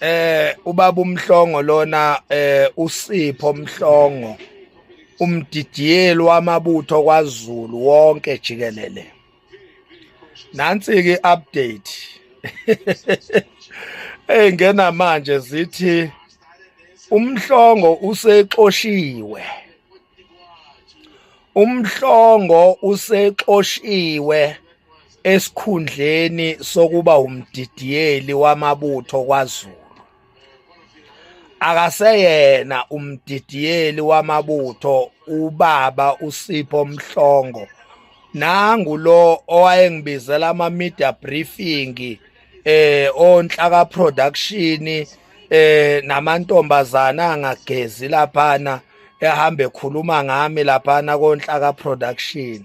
eh ubaba umhlongo lona eh usipho mhlongo umdidiyeli wamabutho kwaZulu wonke jikelele nansi ke update hey ngena manje zithi umhlongo usexoshiwe Umhlongo usexoshiwe esikhundleni sokuba umdidiyeli wamabutho kwaZulu. Akaseyena umdidiyeli wamabutho ubaba uSipho Mhlongo nangu lo owayengibizela ama media briefing eh onhlaka production eh namantombazana angagezi laphana ehambe khuluma ngami laphana konhlaka production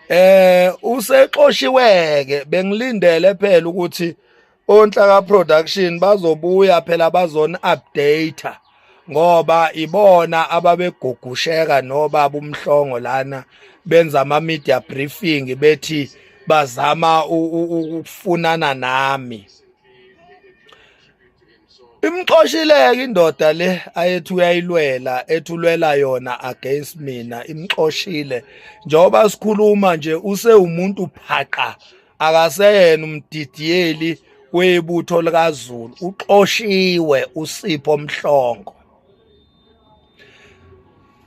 eh usexoshiweke bengilindele phela ukuthi onhlaka production bazobuya phela bazona update ngoba ibona ababegugusheka nobaba umhlongo lana benza ama media briefing bethi bazama ukufunana nami imxoshileke indoda le ayethi uyayilwela ethulwela yona against mina imxoshile njengoba sikhuluma nje usewumuntu phaqa akaseyena umdidiyeli webutho likazulu uxoshiwe usipho mhlongo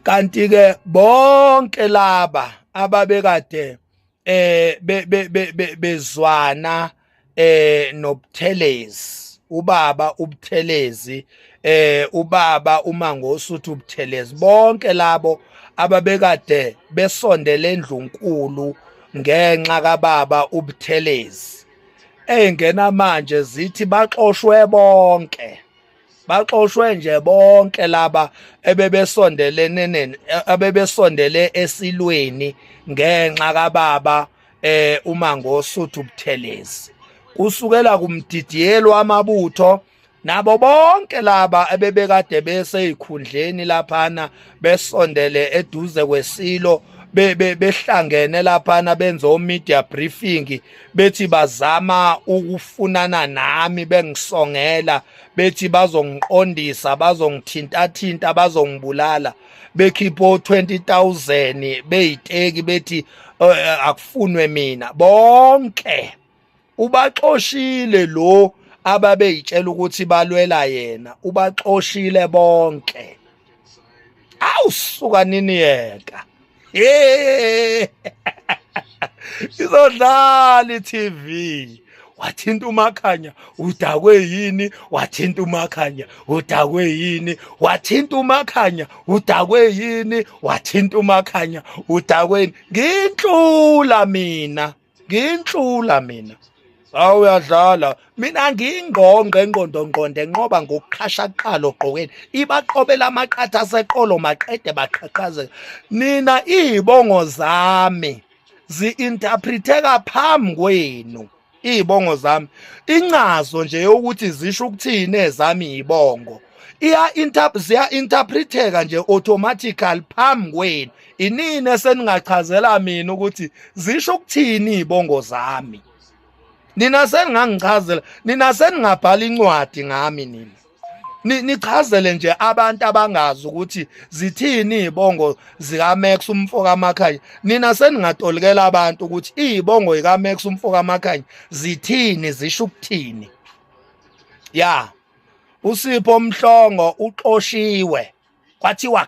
kanti ke bonke laba ababekade eh bezwana eh nobuthelezi ubaba ubuthelezi eh ubaba umangosi uthi ubuthelezi bonke labo ababekade besondele endlunkulu ngenxa kababa ubuthelezi eyingena manje zithi baxoshwe bonke baxoshwe nje bonke laba ebebesondelene neni abebesondele esilweni ngenxa kababa eh uma ngosuthu ubuthelezi kusukela kumdidiyelo amabutho nabo bonke laba ebebekade beseyikhundleni laphana besondele eduze kwesilo behlangene laphana benza omedia briefing bethi bazama ukufunana nami bengisongela bethi bazongiqondisa bazongithintathinta bazongibulala bekhipha o20000 beyiteki bethi eh, eh, akufunwe mina bonke ubaxoshile lo ababeyitshela ukuthi balwela yena ubaxoshile bonke awusuka nini yeka izodlala i-tv wathinta umakhanya udakwe yini wathinta umakhanya udakwe yini wathinta umakhanya udakwe yini wathinta umakhanya udakweni nginhlula mina nginhlula mina awu uyadlala mina ngingqongqe ngqondongqonde nqoba ngokuqhasha kuqala ogqokeni ibaqobela amaqatha aseqolo maqede baqhaqhazela nina izibongo zami zi-interpreteka phambi kwenu izibongo zami incazo nje yokuthi zisho ukuthini ezami izibongo iya ziya-interpreteka nje automatically phambi kwenu inini eseningachazela mina ukuthi zisho ukuthini izibongo zami nina seningangichazela nina seningabhala incwadi ngami nina nichazele nje abantu abangazi ukuthi zithini izibongo zika Max umfo kaMakhanya nina seningatolikela abantu ukuthi izibongo zika Max umfo kaMakhanya zithini zisho ukuthini ya usipho mhlongo uxoshiwe kwathiwa